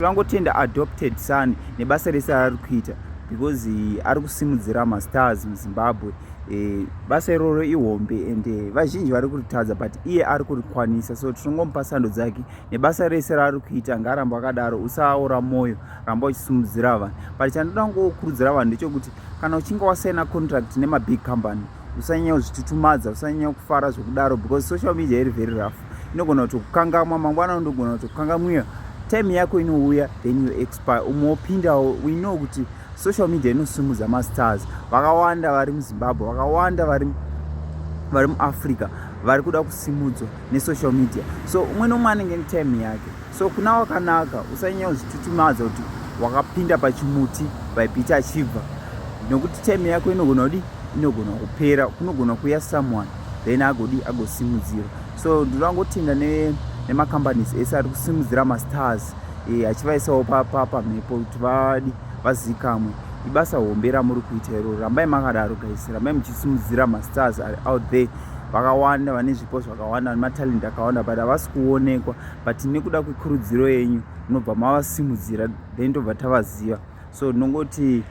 tingangotenda adopted son nebasa rese raari kuita because eh, ari kusimudzira mastars muzimbabwe eh, basa iroro ihombe and eh, vazhinji vari kuritadza but iye ari kurikwanisa so tinongomupa sando dzake nebasa rese raari kuita ngaaramba akadaro usaora mwoyo ramba uchisimudzira vanhu but chandoda ngokurudzira vanhu ndechokuti kana uchinge wasaina contract nemabig company usanyanya kuzvitutumadza usanyanya kufara zvekudaro because social media iri very rough inogona kutokukangamwa mangwana unogona kutokukangamwira time yako inouya then you expire umwe wopindawo we know kuti social media inosimudza mastars vakawanda vari muzimbabwe vakawanda vari vari muafrica vari kuda kusimudzwa nesocial media so umwe nomwe anenge netime yake so kuna wakanaka usanyanya kuzvitutumadza kuti wakapinda pachimuti vaipita achibva nokuti time yako inogona kudi inogona kupera kunogona kuya someone then agodi agosimudzira so ndinoda ngotenda nemacompanies ese ari kusimudzira mastars e, eh, achivaisawo pamhepo kuti vadi vazikamwe ibasa hombe ramuri kuita iro rambai makadaro guys rambai muchisimudzira mastars ari out there vakawanda vane zvipo zvakawanda vane matalent akawanda but havasi kuonekwa but nekuda kwekurudziro yenyu munobva mavasimudzira then tobva tavaziva so ndinongoti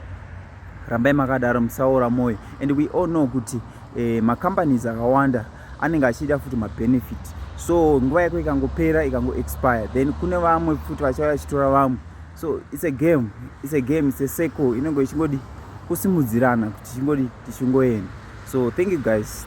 rambai makadaro musaora mwoyo and we all know kuti eh, macompanies akawanda anenge achida futi mabenefit so nguva yako ikangopera ikangoexpire then kune vamwe futi vachauya vachitora vamwe so its a game its a game its a circle inenge ichingodi kusimudzirana kuti chingodi tichingoenda so thank you guys